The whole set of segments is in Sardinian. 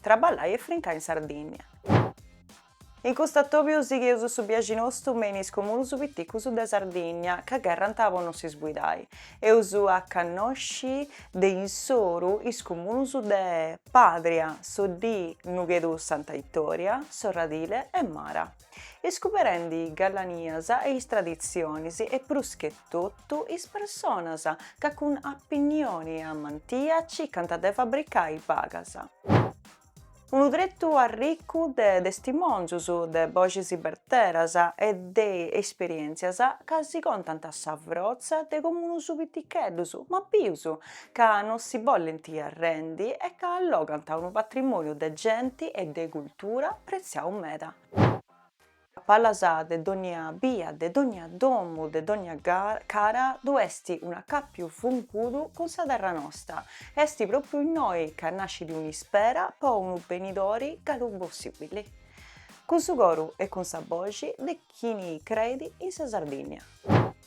Traballai e frincai in Sardìnnia. In custu atòbiu sigheus su biaxi nostu me in is comunus piticus de Sardìnnia ca gherrant po no s'isbuidai. Eus a cannosci de insoru is comunus de Pàdria, Soddì, Nughedu Santa Itòria, Sorradile e Mara. iscuberendi is gallanias e is traditzionis e pruschetotu is personas ca cun apinnioni e amantia circant de fabricai bagas. Unu tretu arricu de testimòngius, de boxis berteras e de esperièntzias ca si contant sa frotza de comunus piticheddus ma bius ca non si bollent arrendi e ca allogant unu patrimòniu de genti e de cultura pretziau meda. A palas de dònnia bia, de dònnia domu, de dònnia cara ddu est un'acàpiu fungudu cun sa terra nosta, est pròpriu innoi ca nascit un'ispera po unu benidori galu possìbili, cun su coru e cun sa boxi de chini creit in sa Sardìnnia.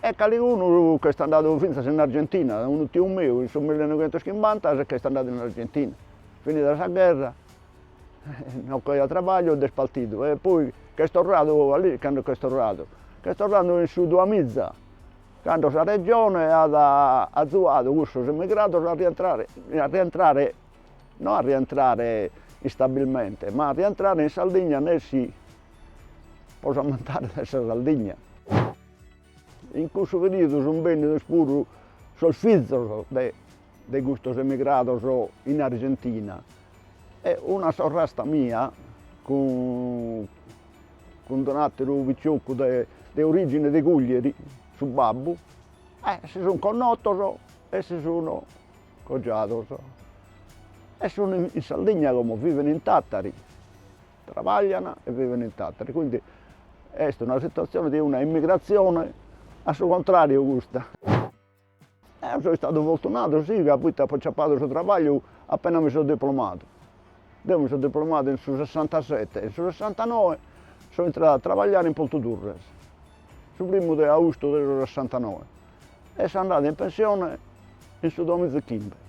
e caligunu ch'est andadu fintzas in Argentina, unu tiu meu in su millenoighentoschimbanta si ch'est andadu in Argentina, finida sa gherra non ch'aiat trabagliu nd'est partidu e poi ch'est torradu a lì, cando ch'est torradu, ch'est torradu in su duamiza, cando sa Regione at azuadu cussos emigrados a rientrare, a rientrare, no a rientrare istabilmente, ma a rientrare in Sardigna nessi po s'ammentare de sa Sardigna. In cussu periodu sunt bennidos puru sos fizos de de custos emigrados in Argentina e una sorrasta mia cun cun un'atteru piccioccu de de origine de Cuglieri, su babbu, e si sun connotos e si sun cogiados e sun in Sardigna como viven in Tattari trabaglian e viven in Tàtari, quindi est una situatzione de una immigratzione a su contràriu custa. Eo so istadu fortunadu si ca poita apo aciapadu su trabagliu apena mi so diplomadu. Eo mi so diplomadu in su sessantasete e in su sessantanoe so intradu a trabagliare in Portu Turres, su primu de austu de su sessantanoe e so andadu in pensione in su duamizechimbe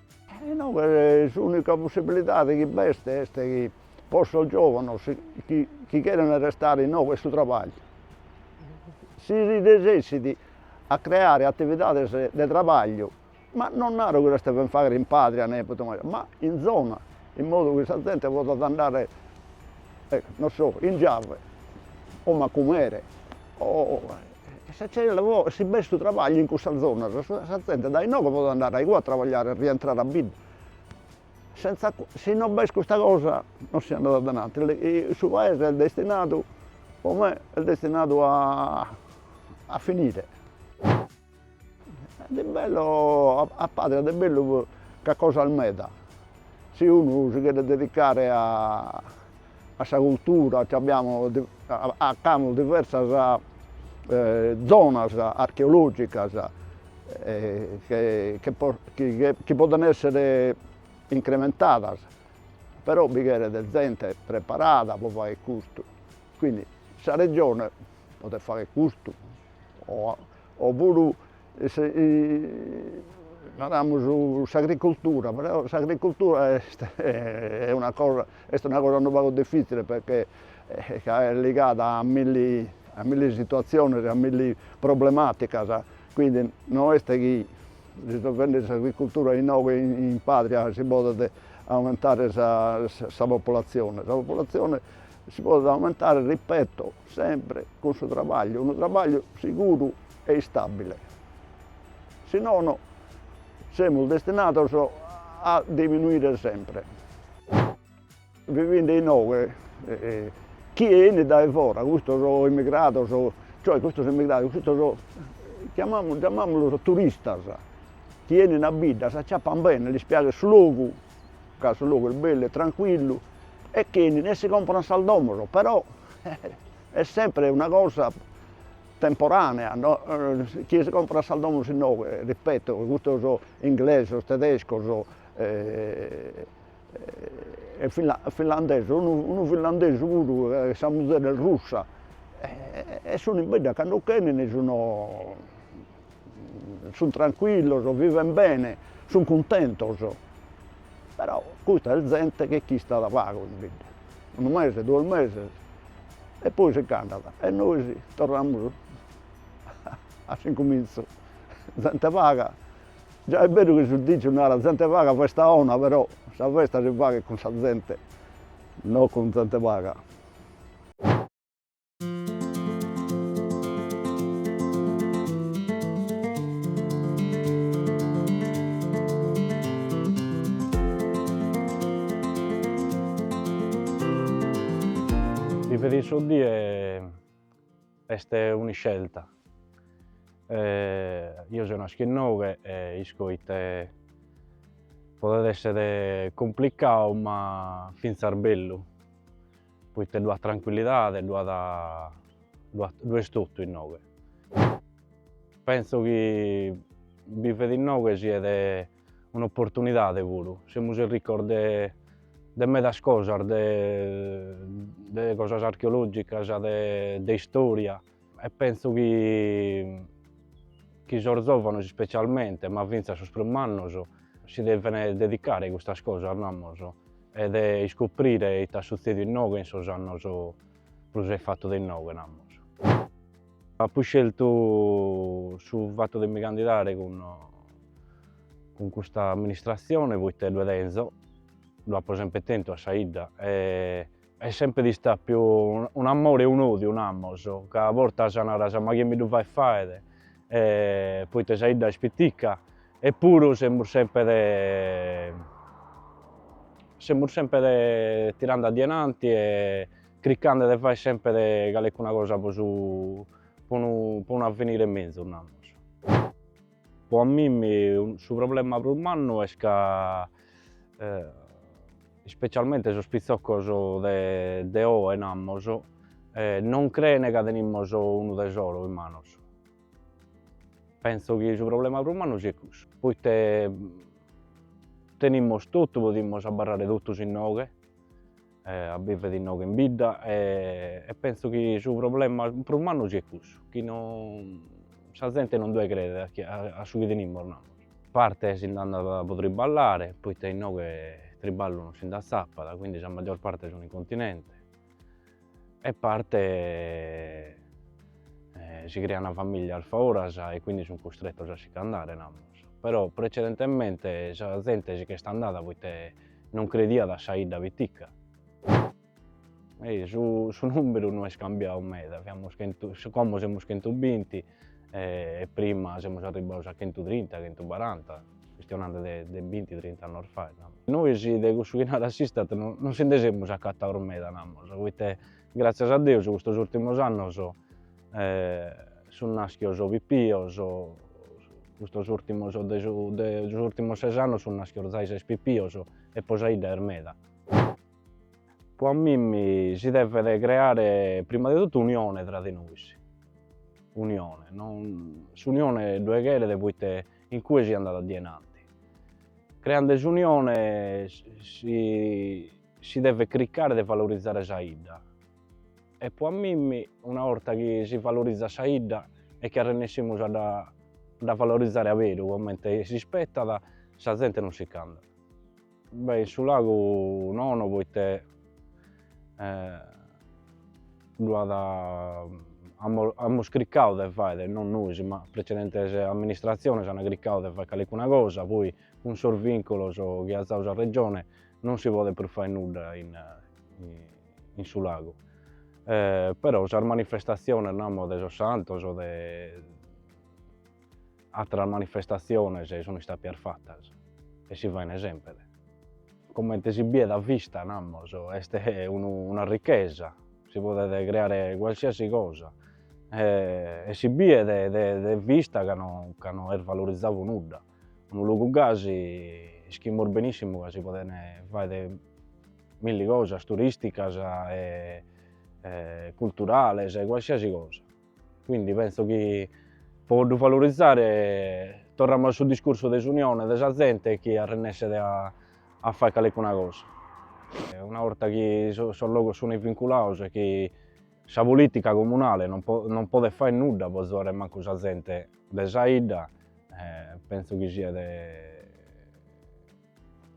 Inoghe s'ùnica possibilidade chi b'est est chi pro sos giòvanos chi chi cheren restare inoghe est su trabagliu. Si si resessit a creare atividades de trabagliu, ma non naro chi los deven fagher in Pàdria ne totu manera, ma in zona, in modu chi sa zente podat andare non so in Giave o Macumere o E sa tzena po si b'est su trabagliu in cussas zonas, sa zente dae inoghe podet andare a igue a trabagliare e rientrare a bidda. Senza si non b'est custa cosa non si andat add'ananti, su paese est destinadu po me est destinadu a finire. De bello a Padria de bellu ch'at cosas meda, si unu si cheret dedicare a sa cultura nci apiamus ch'amus diversas zonas archeologicas chi podent esser incrementadas, però bi cheret zente preparada pro fagher custu, quindi sa Regione podet fagher custu o o puru naramus s'agricultura, però s'agricultura est est una cosa est una cosa unu pagu diffizzile perché ca est ligada a milli a milli situaziones e a milli problematicas, quindi no est chi risolvende s'agricultura inoghe in Padria si podet aumentare sa sa populazione, sa populazione Si podet aumentare, ripeto, sempre cun su trabagliu, unu trabagliu siguru e istabile, si nono semus destinados a diminuire sempre. Bi fint inoghe chie 'enit dae fora, custos immigrados, cioè custos immigrados, custos chiamamus, giamamulos turistas, chi 'enin a bidda, s'acciappan bene, lis piaghet su logu ca su logu est bellu e trancuillu e ch'enin e si comporan sas domos, però est sempre una cosa temporanea no chie si comporat sas domos inoghe, ripeto, custos inglesos, tedescos e finlandesos, unu finlandesu puru e sa muzere est russa e sun in bidda cando ch'enin sun sun trancuillos, viven bene, sun cuntentos, però custa est zente chi ch'istat pagu in bidda, unu mese, duos meses e poi si ch'andat e nois torramus a s'incumintzu, zente paga, già est beru chi su diciu narat zente paga festa 'ona, però sa festa si faghet cun sa zente, non cun zente paga. Vivere in Soddie est un'iscelta, eo seu naschio inoghe e isco ite podet essere complicadu ma finzas bellu Poita ddu at trancuillidade, ddu at, ddu at, ddu est totu inoghe. Pentzu chi bivere inoghe siet un'oportunidade puru, semus arricos de de medas cosas, de de cosas archeologicas, de de istoria, e penso chi chi sos zovanos ispecialmente ma finzas sos prus mannos si devene dedicare a custas cosas namos e de iscoprire ite at sutzediu innoghe in sos annos prus a fattu de innoghe namos. Apo iscertu su fattu de mi candidare cun cun custa amministrazione poite ddue tenzo, ddue apo sempre tentu a sa 'idda e Est semper istapiu un'amore e un'odiu namos, ca a bortas naras ma chie mi ddu faet faer, poita sa 'idda est pitica, e puru semus semper semus semper tirende a dienanti e criccande de faer semper calecuna cosa po su po unu po unu avvenire mezus namos. Po a mimmi su problema prus mannu est ca ispecialmente sos pitzoccos de oe namos non creen ca tenimos unu tesoro in manos, penzo chi su problema prus mannu siet cussu, poite tenimos totu podimos abarrare totus inoghe eh, a biver innoghe in bidda e, e penso chi su problema prus mannu siet cussu, chi non, sa zente non ddoe credet a, chi, a su chi tenimos namos. Parte si nd'andat po triballare, poita innoghe triballu non si nd'atzapat, quindi sa maggior parte sun in continente, e parte eh, si creana familias foras e quindi sun custrettos a si ch'andare namus, però precedentemente sa zente si ch'est andada poita Non crediat a sa 'idda pitica. Su nùmberu no est cambiau meda, fiamus chentu, como semus chentu binti e prima semus arribbaos a chentu trinta, chentu baranta, chistionande de binti trint'annos faet, namos. Nois de cussu chi narat s'ISTAT no si nde semus acataos meda, namos, poita, gràtzias a Deus, custos ùrtimos annos, sun naschios pipios, custos urtimos de sos urtimos ses annos sun naschios doxases pipios e po sa 'idda est meda. Po a mimmi si devet creare prima de totu unione tra de nois, unione, non, s'unione ddoe cheret poite in cue si andat a dienanti, creande s'unione si si devet cricare de valorizare sa 'idda E po a mimmi una 'orta chi si valorizat sa 'idda e chi arrennessimus a dda valorizare a beru comente s'ispettat, sa zente non sicch'andat. Beh in su lagu nono poite ddu amus criccadu de faere, non nois ma precedentes amministratziones ant criccadu de fai calicuna cosa, poi cun sos vinculos chi at zau sa Regione non si podet prus fai nudda in in su lagu. Però sas manifestatziones, namos, de sos santos o de atteras manifestatziones sun istapias fattas e si faine sempre. Comente si biet a vista, namos, est una ricchesa, si podet creare qualsiasi cosa e si biet de vista ca no est valorizadu nudda. Unu logu gasi ischimus benissimu ca si podent fai milli cosas turisticas e culturales, qualsiasi cosa, quindi penso chi po ddu valorizare torramus a su discursu de s'unione de sa zente chi arrennesset a fai calicuna cosa. Una 'orta chi sos logos sunt vinculados e chi Sa polìtica comunale non podet fai nudda po azuare mancu sa zente de sa 'idda, pentzu chi siat,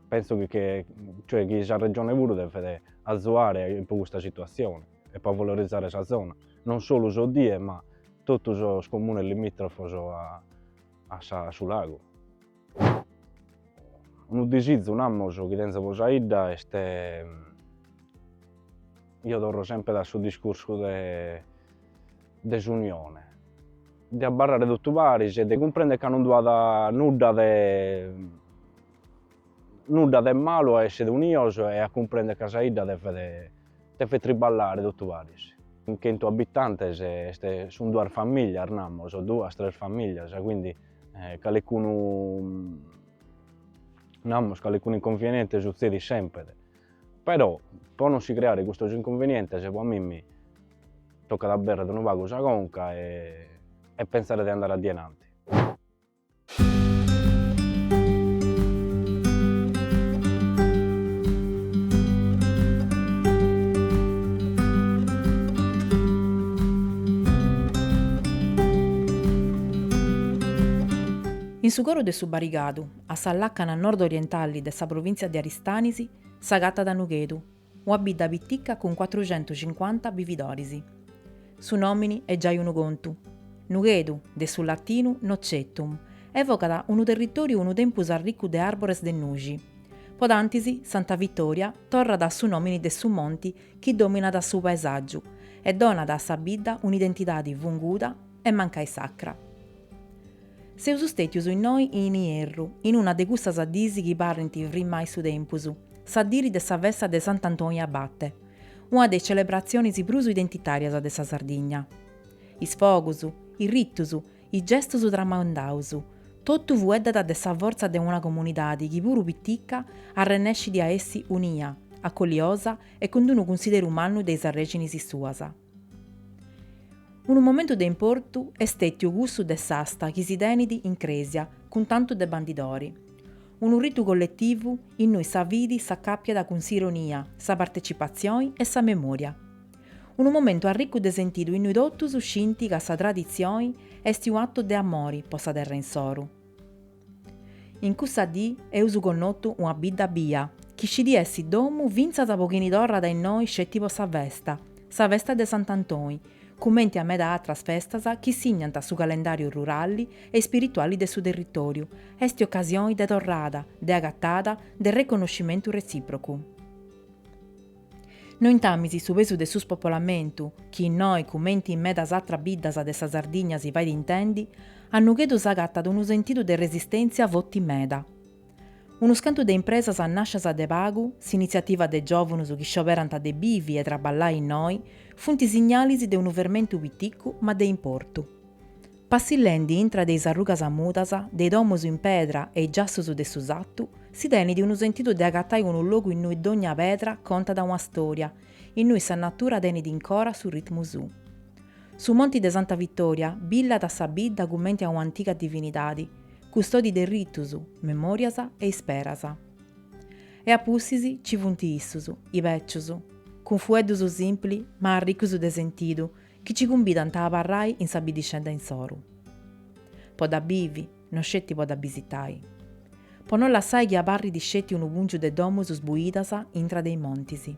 pentzu chi cioè chi sa Regione puru devet azuare po custa situatzione e po valorizare sa zona, non solu Soddie ma totu sos comunes limitrofos a su lagu. Unu disizu, namus, chi tenzo po sa 'idda est, eo torro sempre a su discursu de de s'unione, de abbarrare totu paris e de cumprender ca non ddu at nudda de nudda de malu a essere unidos e a cumprender ca sa 'idda devet devet triballare totu paris. Chentu abitantes est, sun duas familias, namus, duas tres familias, quindi Eh, calecunu, namus, calecunu inconvieniente sutzedit sempre, però pro non si creare custos inconvenientes pro a mimmi toccat a aberrere unu pagu sa conca e, e pensare de andare a denanti. In su coru de su Barigadu, a sa làcana nord-orientali de sa provìntzia de Aristanis, s'agatat Nughedu, una bidda pitica cun cuatruxentus cincuanta bividoris. Su nòmini est giai unu contu. Nughedu, de su latinu Nocetum, evocat unu territòriu unu tempus arricu de àrbores de nuxi. Po cantu a Santa Vitòria torrat a su nòmini de su monti chi dòminat su paesàgiu e donat a sa bidda un'identidadi funguda, e mancai sacra. Seus stètius innoi in Ierru, in una de cussas dis chi parrint firmai su tempus, sa dì de sa festa de Sant'Antoni Abate, una de is celebratzionis prus identitàrias de sa Sardigna. Is fogus, is ritus, is gestus tramandaus, totu fueddat de sa fortza de una comunidadi chi puru pitica arrennescit a essi unia, acoliosa e cun d'unu cunsideru mannu de is arrèxinis suas. Unu momentu de importu est stètiu cussu de s'asta chi si tenit in crèsia cun tantu de bandidori. Unu ritu colletivu innui sa fidi s'acàpiat cun s'ironia, sa partetzipatzioni e sa memòria. Unu momentu arricu de sentidu innui totus scint ca sa traditzioni est un'atu de amori po sa terra insoru. In cussa dì eus connotu una bidda bia, chi scit essi domu fintzas po chini torrat a innoi sceti po sa festa, sa festa de Sant'Antoni, cumenti a meda atras festas chi signant su calendàriu rurali e ispirituali de su territòriu, est ocasioni de torrada, de agatada, de reconnoscimentu retzìprocu. Nointamis su pesu de su spopolamentu, chi innoi, cumenti in medas atras biddas de sa Sardigna si fait intendi, a Nughedu s'agatat unu sentidu de resistèntzia forti meda. Unus cantu de impresas nàscias de pagu, s'initziativa de giòvunus chi scioberant de bivi e traballai innoi, funt signalis de unu fermentu piticu ma de importu. Passillendi intra de is arrugas mudas de i domus in pedra e i giassus de su satu, si tenit unu sentidu de s'agatai in unu logu innui dogna pedra contat una storia, innui sa natura tenit incora su ritmu suu. Su monti de Santa Vittoria billat a sa bidda cumenti a un'antiga divinidadi, custodi de ritus, memorias e isperas. E a pustis ci funt issus, is becius, cun fueddus simpli ma arricus de sentidu, Chi ci cumbidant a abarrai in sa biddixedda insoru. Po dda bivi, no sceti po dda bisitai. Po no lassai chi abarrit sceti unu pùngiu de domus sbuidas intra de is montis.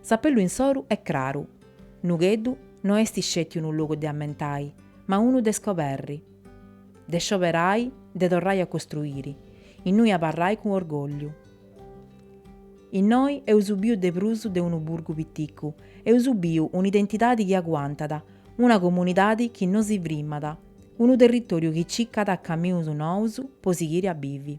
S'apellu insoru est craru, Nughedu no est sceti unu logu de ammentai, ma unu de scoberri. De scioberai, de torrai a costruiri, innui abarrai cun orgògliu. Innoi eus biu de prus de unu burgu piticu, eus biu un'identidadi chi aguantat, una comunidadi chi no si frimat, unu territoriu chi cicat camius nous pro sighiri a bivi.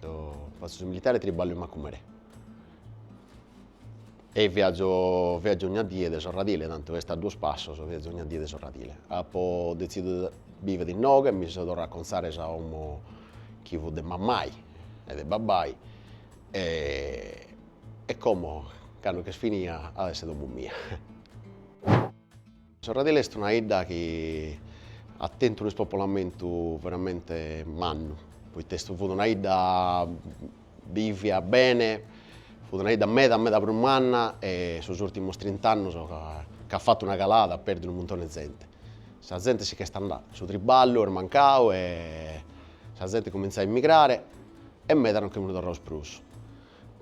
Deo fatzo su militare e triballo in Macumere e viaggio, viaggio ogna die de Sorradile, tantu est a duos passos, viaggio ogna die de Sorradile. Apo detzididu de bivere inoghe e mi so torrande a contzare sa 'omo chi fut de mammai e de babbai e e como cando ch'est finia at a esser 'omo mia Sorradile est una 'idda chi at tentu unu ispopolamentu veramente mannu, poita est fut una 'idda bivia bene, fut una 'idda meda meda prus manna e sos urtimos trint'annos ch'at fatu una calada at perdiu unu muntone 'e zente. Sa zente si ch'est andada, su triballu est mancadu e sa zente cumintzat a emigrare e meda non che sunt torrados prus.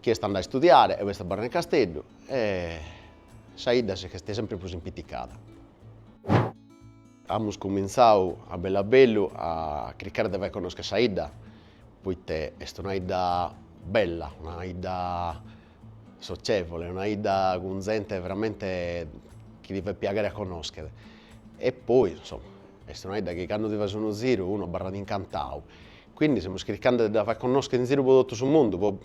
Chie est andadu a istudiare o est abarradu in Casteddu e Sa 'idda si ch'est sempri prus impiticada. Amus cumintzau a bellu a bellu a cricare de fai connoscher sa 'idda, poita est una 'idda bella, una 'idda socievole, una 'idda cun zente veramente chi ti fait piaghere a connoscher. E poi, insoma, est una 'idda chi candu si fait unu ziru unu abarrat incantau. Quindi semus cricende de dda fai connoscher in ziru po totu su mundu po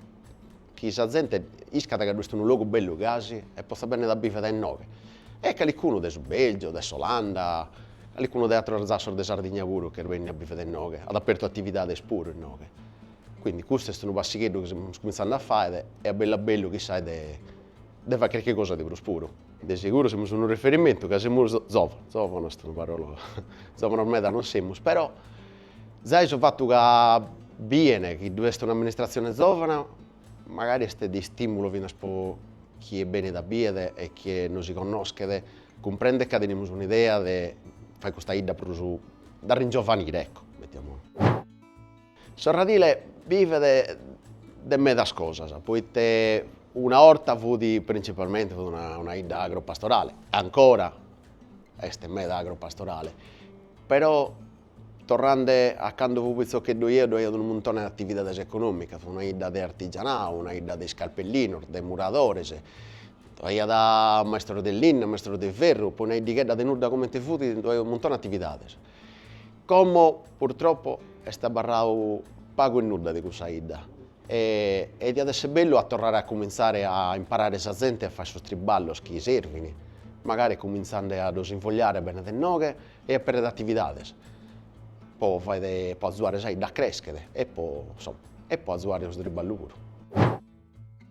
chi sa zente iscat ca ddu est unu logu bellu gasi e potzat bennere a bivere inoghe, e calicunu de su Belgiu, de s'Olanda, calicunu de ateros zassos de Sardigna puru ch'est bennidu a bivere inoghe, at apertu atividades puru inoghe, quindi custu est unu passigheddu chi semus cumintzende a faghere e a bellu a bellu chissai de de faghere carchi cosa de prus puru. De seguru semus unu riferimentu ca semus zòvanos, zòvanos est una parola, zòvanos meda non semus però Zai su fatu ca biene chi ddu est un'amministratzione zòvana magari est de istìmulu finas po chie benit a biere e chie no si connoschet cumprendet ca tenimus un'idea de fai custa 'idda prus d'arringiovanire, ecco, mettiamo. Sorradile bivet de medas cosas poite una 'orta fut printzipalmente fut una 'idda agropastorale, ancora est meda agropastorale, però Torrende a cando fui pitzocheddu eo ddoi aiat unu muntone de atividades econòmicas, una 'idda de artigianau, una 'idda de iscalpellinos, de muradores, aiat maistros de linna, maistros de ferru, poi una 'iddighedda de nudda comente fut, ddoi aiat unu muntone de atividades. Como purtroppo est abarradu pagu e nudda de cussa 'idda e e diat esser bellu a torrare a cumintzare a imparare sa zente a fàere sos triballos chi servin, magari cumintzende a ddos invogliare bene de inoghe e a apèrrere atividades po fàere po azuare sa 'idda a crèschere po insomma e po azuare su triballu puru.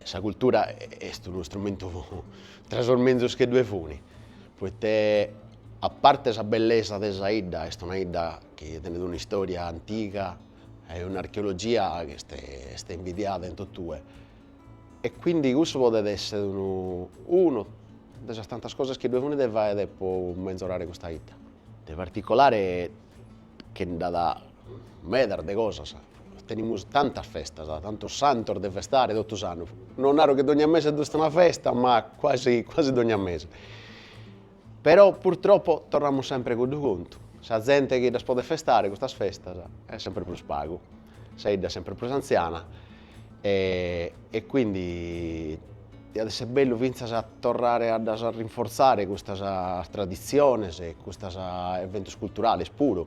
Sa cultura est unu istrumentu tra sos menzus chi ddoe funi, poite a parte sa bellesa de sa 'idda, est una 'idda chi tenet un'istoria antiga e un'archeologia chi est est invidiada in totue E quindi cussu podet esser unu unu de sas tantas cosas chi ddue funi de fàere po menzorare custa 'idda. De particolare che nd'at medas de cosas, tenimus tantas festas, tantos santos de festare totu s'annu, non naro chi dogna mese ddu est una festa, ma quasi quasi dogna mese. Però purtroppo torramus sempre cuddu contu, sa zente chi ddas podet festare custas festas est sempre prus pagu, sa 'idda est sempre prus antziana e e quindi diat esser bellu fintzas a torrare a ddas rinforzare custas traditziones e custas eventos culturales puru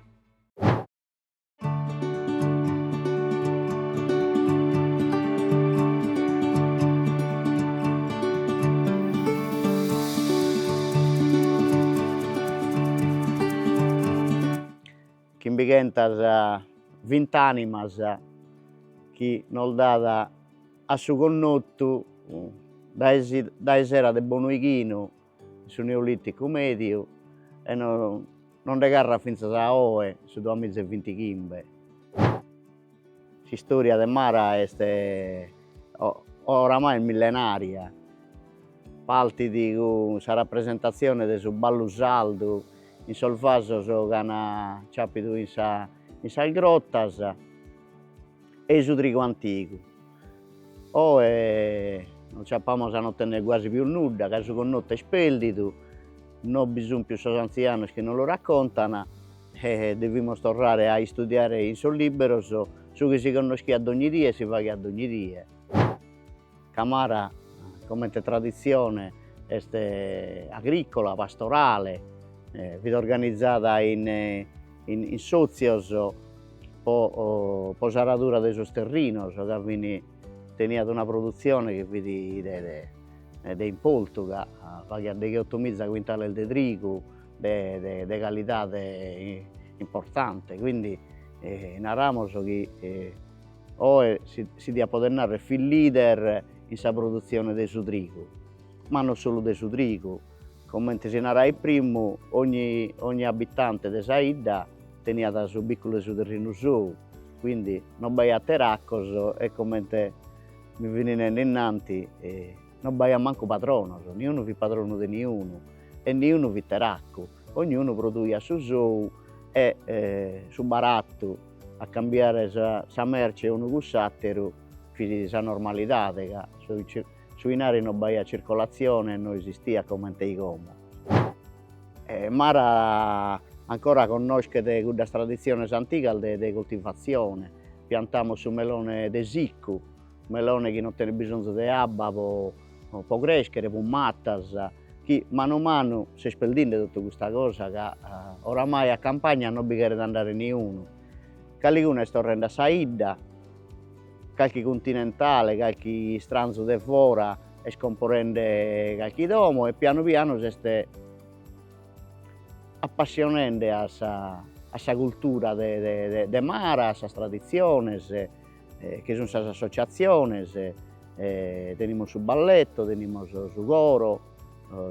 chimbichentas vinti animas chi nos dat a su connotu dae dae sera de bonu 'ighinu In su Neolìticu mèdiu, e nos nde carrat fintzas a oe, su duamiza e vinti chimbe, s'istòria de Mara est oramai millenària, partit cun sa rapresentatzione de su ballu sardu in sos vasos ch'an ciàpidu in sa in sas grotas, e su trigu antigu. Oe nos ciappamos a no tenner guasi pius nudda, ca su connottu est perdidu, no bi sun pius sos antzianos chi nos lu raccontan e devimos torrare a istudiare in sos libberos su chi si connoschiat dogni die e si faghiat dogni die. Ca Mara comente traditzione est agrìcola, pastorale, fit organizada in sòtzios po s'aradura de sos terrinos ca fin teniat una produtzione chi fit de importu ca faghiat degheoto miza cuintales de trigu de calidade importante, quindi naramos chi Oe si diat poder narrer fit leader in sa produtzione de su trigu, ma non solu de su trigu, comente si narait primu, ogni abitante de sa 'idda teniat su biculu de su terrinu sou, quindi non b'aiat teracos e comente mi fini nende innanti non b'aiat mancu patronos, niunu fit patronu de niunu e niunu fit teracu. ognunu produiat su sou e su baratu a cambiare sa merce unu cun s'àteru fit sa normalidade, ca su 'inari non b'aiat circolatzione e non esistiat comente como. Mara ancora connoschet cuddas traditziones antigas de coltivatzione, piantamus su melone de siccu Melone chi non tenet bisonzu de abba po crèschere, prus matas, chi manu manu s'est perdende totu custa cosa ca oramai a campagna non bi cheret andare niunu, caligunu est torrende a sa 'idda, calchi cuntinentale, calchi istranzu de fora est comporende calchi domo e pianu pianu s'est appassionende a sa cultura de Mara, a sas traditziones bi sun sas associatziones, tenimus su balletto, tenimus su coro,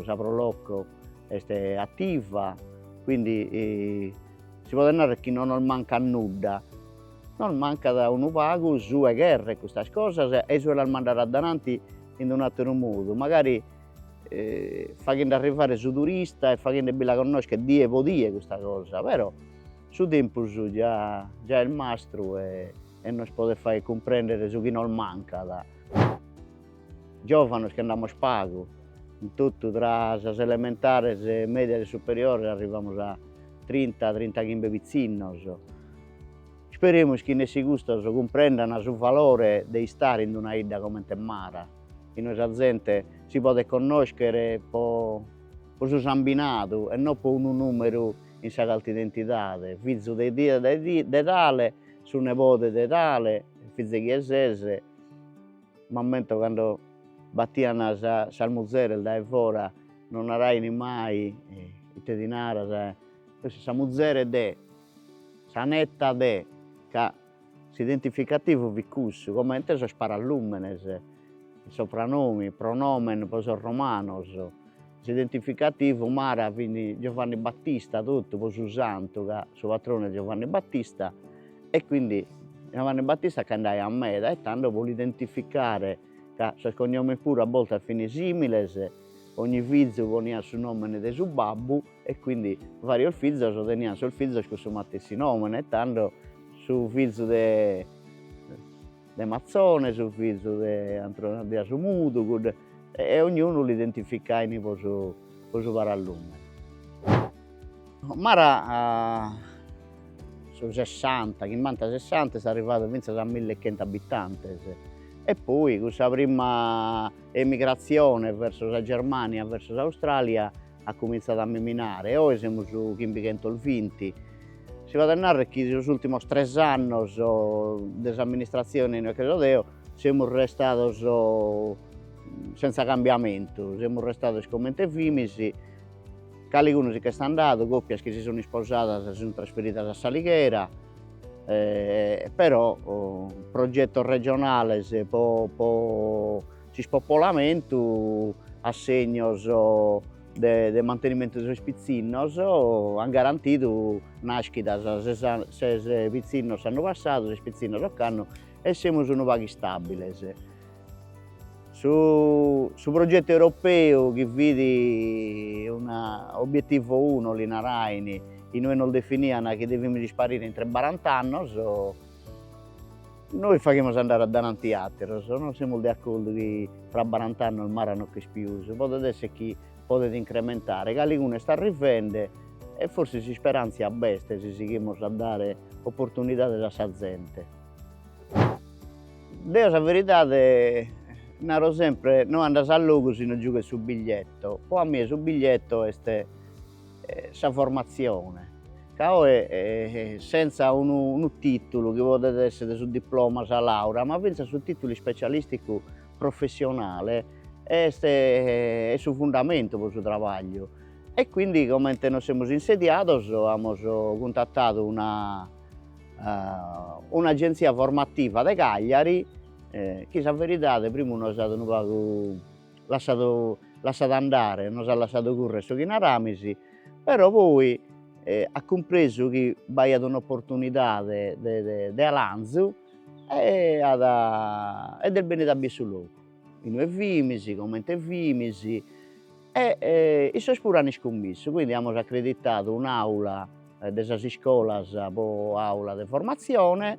sa Pro Loco est attiva, quindi si podet narrer chi non nos mancat nudda, nos mancat unu pagu su 'e creer custas cosas e su 'e las mandare addainanti in un'atteru modu, magari faghende arrivare su turista e faghende·bi·la connoschere die po die custa cosa però Su tempus già est mastru e nos podet fagher cumprender su chi nos mancat. Giovanos chi nd'amus pagu, in totu tra sas elementares, medias e superiores arrivamus a trinta, trinta chimbe pitzinnos. Isperemus chi nessi custos cumprendana su valore de istare in una 'idda comente Mara, inue sa zente si podet connoschere po su sambinadu e no po unu numeru in sa carta identidade, fizu de de tale, su nebode de tale, fizu 'e chie ses, m'ammento cando battian sas muzeres dae fora, non narain mai ite ti naras, sa muzere de, sa netta de, ca S'identificativu fit cussu, comente sos paralùmenes, sopranomi, pronòmen pro sos romanos. S'identificativu Mara fit Giovanni Battista totu pro su santu, ca su patronu est Giovanni Battista e quindi Giovanni Battista ch'andaiat meda e tando pro l'identificare, ca sos cognomes puru a bortas fin similes, ogni fizu poniat su nomene de su babbu E quindi varios fizos teniant sos fizos cun su matessi nomene e tando su fizu de de Mazzone, su fizu de Antrone de Asumudu, cudde e ognunu l'identificain po su po su paralùmene. Mara a su sessanta, chimbanta sessanta est arrivadu finzas a mille e chentu abitantes e poi cun sa prima emigratzione verso sa Germania, verso s'Australia at cumintzadu a miminare e oe semus chimbighentos vinti. Si faghet narrer chi sos ultimos tres annos de s'amministratzione inue che so deo semus restados senza cambiamentu, semus restados comente fimis, caligunu si ch'est andadu, copias chi si sun isposadas si sun trasferidas a s'Alighera però progettos regionales po s'ispopolamentu assegnos de mantenimentu de sos pitzinnos an garantidu nàschidas, ses pitzinnos s'annu passadu, ses pitzinnos ocannu e semus unu pagu istàbiles. Su progetu europeu chi fit unu obietivo uno li narain, inue nos definian chi devimus isparire intre barant'annos Nois faghimus andare addainanti ateros, no semus de accordu chi fra barant'annos Mara no ch'est pius, podet esser chi podet incrementare, caligunu est arrivende e forsis s'isperantzia b'est si sighimus a dare opportunidades a sa zente. Deo sa veridade naro sempre, no andas a logu si no giughes su biglietto, po a mie su biglietto est sa formatzione, ca oe sentza unu unu tìtulu chi podet èssere su diploma, sa làurea, ma fintzas su tìtulu ispecialìsticu professionale est est su fundamentu pro su trabagliu e quindi comente nos semus insediados amus cuntatadu una un'agenzia formativa de Cagliari e chi sa veridade primu nos at unu pagu lassadu lassadu andare, nos at lassadu currer su chi naramis, però poi at cumpresu chi b'aiat un'opportunidade de de de alanzu e at e est bennidu a bider su logu, inue fimis, comente fimis e issos puru an iscummissu, quindi amus accreditadu un'aula de sas iscolas pro aula de formazione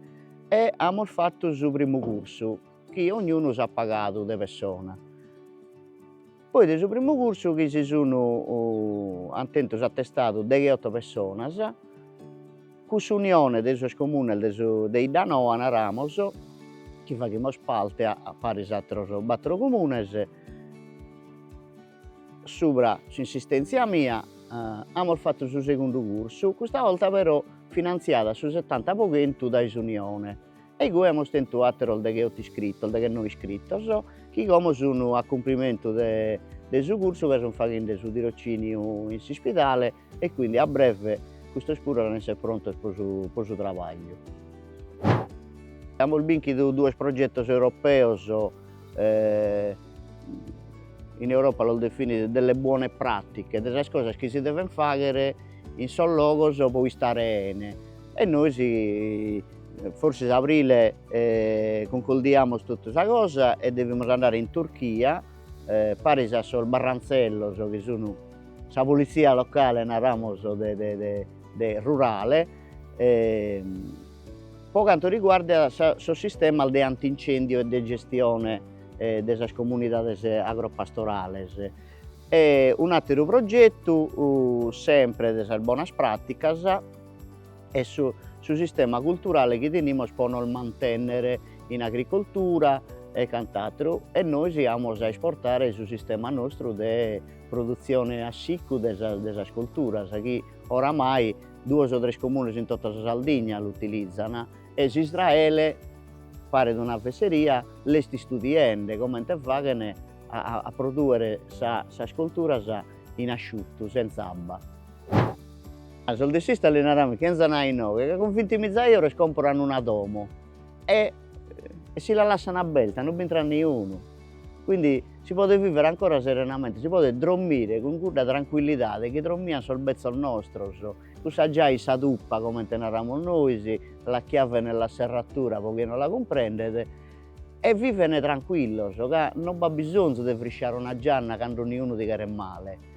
e amus fattu su primu cursu chi ognunu s'at pagadu de pessona, poi de su primu cursu chi si sun ant tentu s'atestadu degheotto pessonas, cun s'unione de sos comunes de su de Iddanoa naramos, chi faghimus parte a paris atteros battero comunes, subra s'insistenzia mia amus fattu su segundu cursu, custa 'olta però finanziada su settanta po chentu dae s'unione E igue amus tentu àteros degheoto iscritos, deghenoe iscritos, chi como sun a cumprimentu de de su cursu ca sun faghende su tirociniu in s'ispidale e quindi a breve custos puru an a esser prontos pro su pro su trabagliu. Amus binchidu duos progetos europeos, in Europa los definin delle buone pratiche, de sas cosas chi si deven fagher in sos logos pro istare 'ene e nois Forsis a abrile concluimus totu sa cosa e devimus andare in Turchia, paris a sos barrantzellos chi sun sa polizia locale naramus de rurale, po cantu riguardat sos sistemas de antincendio e de gestione de sas comunidades agropastorales. E un'ateru progettu sempre de sas bonas praticas est su su sistema culturale chi tenimus po nos mantennere in agricoltura e cant'atteru e nois amus a esportare su sistema nostru de produtzione a siccu de sas de sas colturas chi oramai duos o tres comunes in totta sa Sardigna l'utilizan e s'Israele paret una fesseria l'est istudiende comente faghen a produere sa sas colturas in asciuttu senz'abba. A sos de s'Istat li naramus chi enzan a inoghe ca cun vinti miza euro si comporan una domo e e si la lassan aberta non b'intrat niunu, quindi si podet viver ancora serenamente, si podet drommire cun cudda tranquillidade chi drommian sos bezzos nostros, cun sa giae in sa tuppa comente naramus nois, la chiave nella serratura pro chie non la cumprendet, e viven tranquillos ca non b'at bisonzu de frisciare una gianna cando niunu ti cheret male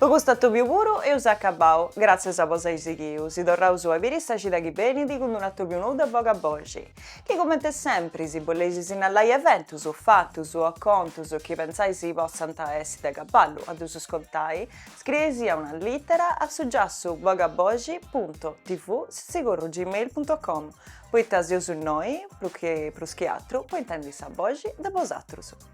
Po custu atòbiu puru eus acabau, gràtzias po s'ai sighiu, si torraus a biri sa cida chi benit cun d'unu atòbiu nou de Bogaboxi, chi comente sempri si boleis sinnalai eventus, fatus o contus chi pentzais si potzant essi de cabale a ddus contai, scrieisia una lìtera a su giassu bogaboxi punto tv sitzigorru gmail punto com, poita seus innoi, prus chi atru, po intendi sa boxi de bosatrus.